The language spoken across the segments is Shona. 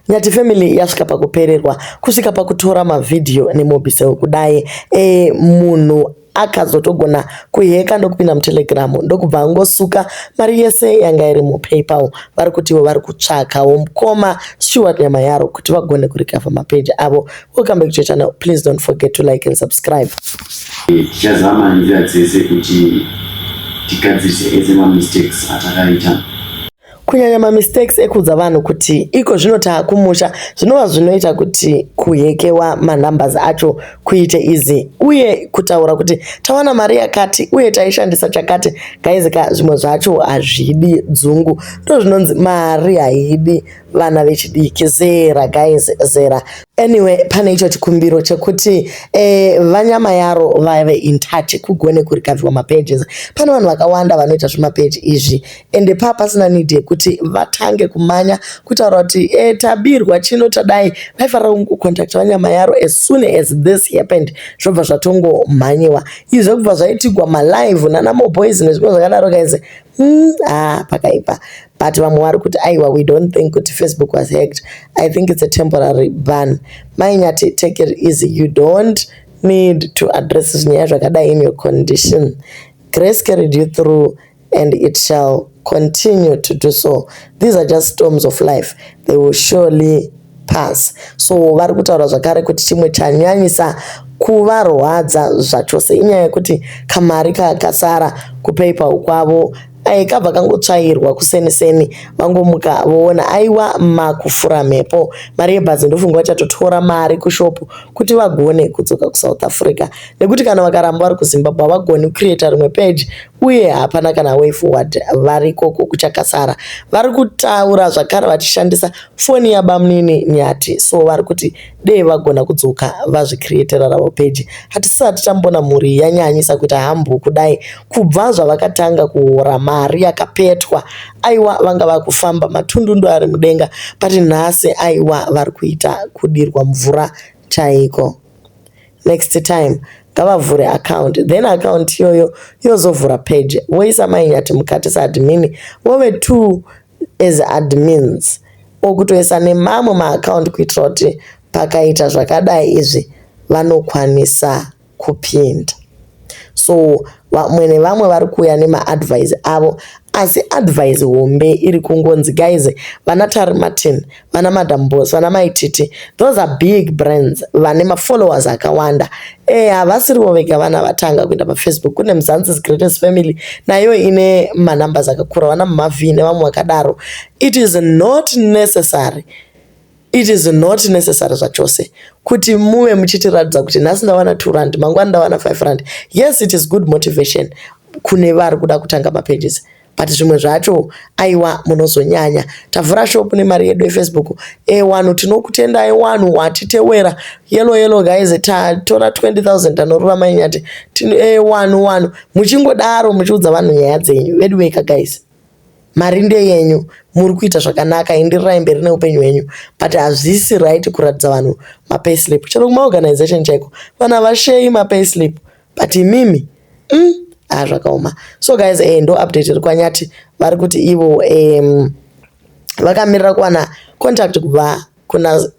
Nyati family yasvika pakupererwa kusvika pakutora mavhidhiyo nemobisel kudai e, munhu akazotogona kuheka ndokupinda mutelegram ndokubva angosuka mari yese yanga iri mupaypal vari kutiwo vari kutsvakawo mukoma stewart nyama yaro kuti vagone kurikavha mapeji avo welcome back to channel please don't forget to like and subscribe tichazama nzira dzese kuti tigadzirise ese mamistakes atakaita Kunyanya mamistakes ekuudza vanhu kuti iko zvino taakumusha zvinova zvinoita kuti kuhekewa manumbers acho kuite easy uye kutaura kuti tawana mari yakati uye taishandisa chakati guys ka zvimwe zvacho hazvidi dzungu ndozvinonzi mari haidi vana vechidiki zera guys zera anyway pane icho chikumbiro chekuti eh, vanyama yaro vave in touch kugone kurikaviwa mapages pane vanhu vakawanda vanoita zvemapeji izvi ende paa pasina need yekuti vatange kumanya kutaura kuti e, tabirwa chino tadai vaifanira kungocontacta vanyama yaro as soon as this happened zvobva zvatongomhanyiwa izvi zvekubva zvaitigwa malive nana moboys nezvimwe zvakadaro guys mm, ah, pakaipa but vamwe vari kuti aiwa we don't think kuti facebook was hacked i think it's a temporary ban mainyati take it easy you don't need to address zvinyaya zvakadai in your condition grace carried you through and it shall continue to do so these are just storms of life they will surely pass so vari kutaura zvakare kuti chimwe chanyanyisa kuvarwadza zvachose inyaya yekuti kamari kakasara kupeipa kwavo ai kabva kangotsvairwa kuseni seni vangomuka voona aiwa makufura mhepo mari yebhazi ndofunga vachatotora mari kushopu kuti vagone kudzoka kusouth africa nekuti kana vakaramba vari kuzimbabwe havagoni kucreata rimwe page uye hapana kana way forward varikoko kuchakasara vari kutaura zvakare vachishandisa foni yabamnini nyati so vari kuti dei vagona kudzoka vazvicreatera ravo peji hatisati tambona mhuri yanyanyisa kuita hambu kudai kubva zvavakatanga kuhora mari yakapetwa aiwa vanga vakufamba matundundu ari mudenga pati nhasi aiwa vari kuita kudirwa mvura chaiko Next time ngavavhure account then account iyoyo yozovhura page woisa mainyati mukati saadmin wove two as admins or kutoisa nemamwe maaccount kuitira kuti pakaita zvakadai izvi vanokwanisa kupinda. so vamwe nevamwe vari kuuya nemaadvise avo asi advise hombe iri kungonzi guys vana tari martin vana madam bos vana maititi those are big brands vane mafollowers akawanda e havasirivo vega vana vatanga kuenda pafacebook kune muzansis greatest family nayo ine manumbers akakura vana mumavhi nevamwe vakadaro it is not necessary It is not necessary zvachose kuti muve muchitiratidza kuti nhasi ndawana 2 rand mangwana ndawana 5 rand. Yes it is good motivation kune vari kuda kutanga mapages but zvimwe zvacho aiwa munozonyanya. Tavhura shop nemari yedu yefacebook. E eh, wanhu tinokutendai wanhu watitewera. Yellow yellow guys tatora 20000 tanorura mainyati. E eh, wanhu wanhu muchingodaro muchiudza vanhu nyaya dzenyu. Veduweka guys. Mari ndeyenyu muri kuita zvakanaka enderirai mberi neupenyu hwenyu but hazvisi right kuratidza vanhu mapayslip chero kumaorganization chaiko vanhu havasheyi mapayslip but imimi mm, haa ah, zvakaoma so guys eh, ndo update iri kwanyati vari kuti ivo um, vakamirira kuwana contact kubva kuna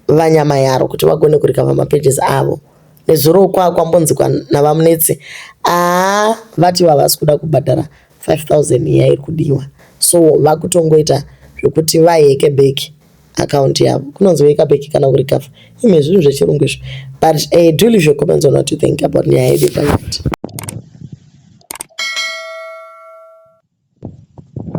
VaNyamayaro kuti vagone kurikava mapages avo. Nezuro kwa kwambonzikwa naVaMunetsi aa vati vavasi kuda kubhadhara 5000 iya iri kudiwa so vakutongoita zvekuti vaheke back account yavo kunonzi weka back kana kurikava ime zvinhu zvechirungu izvo but uh, do leave your comments on what you think about nyaya yedu yepaiti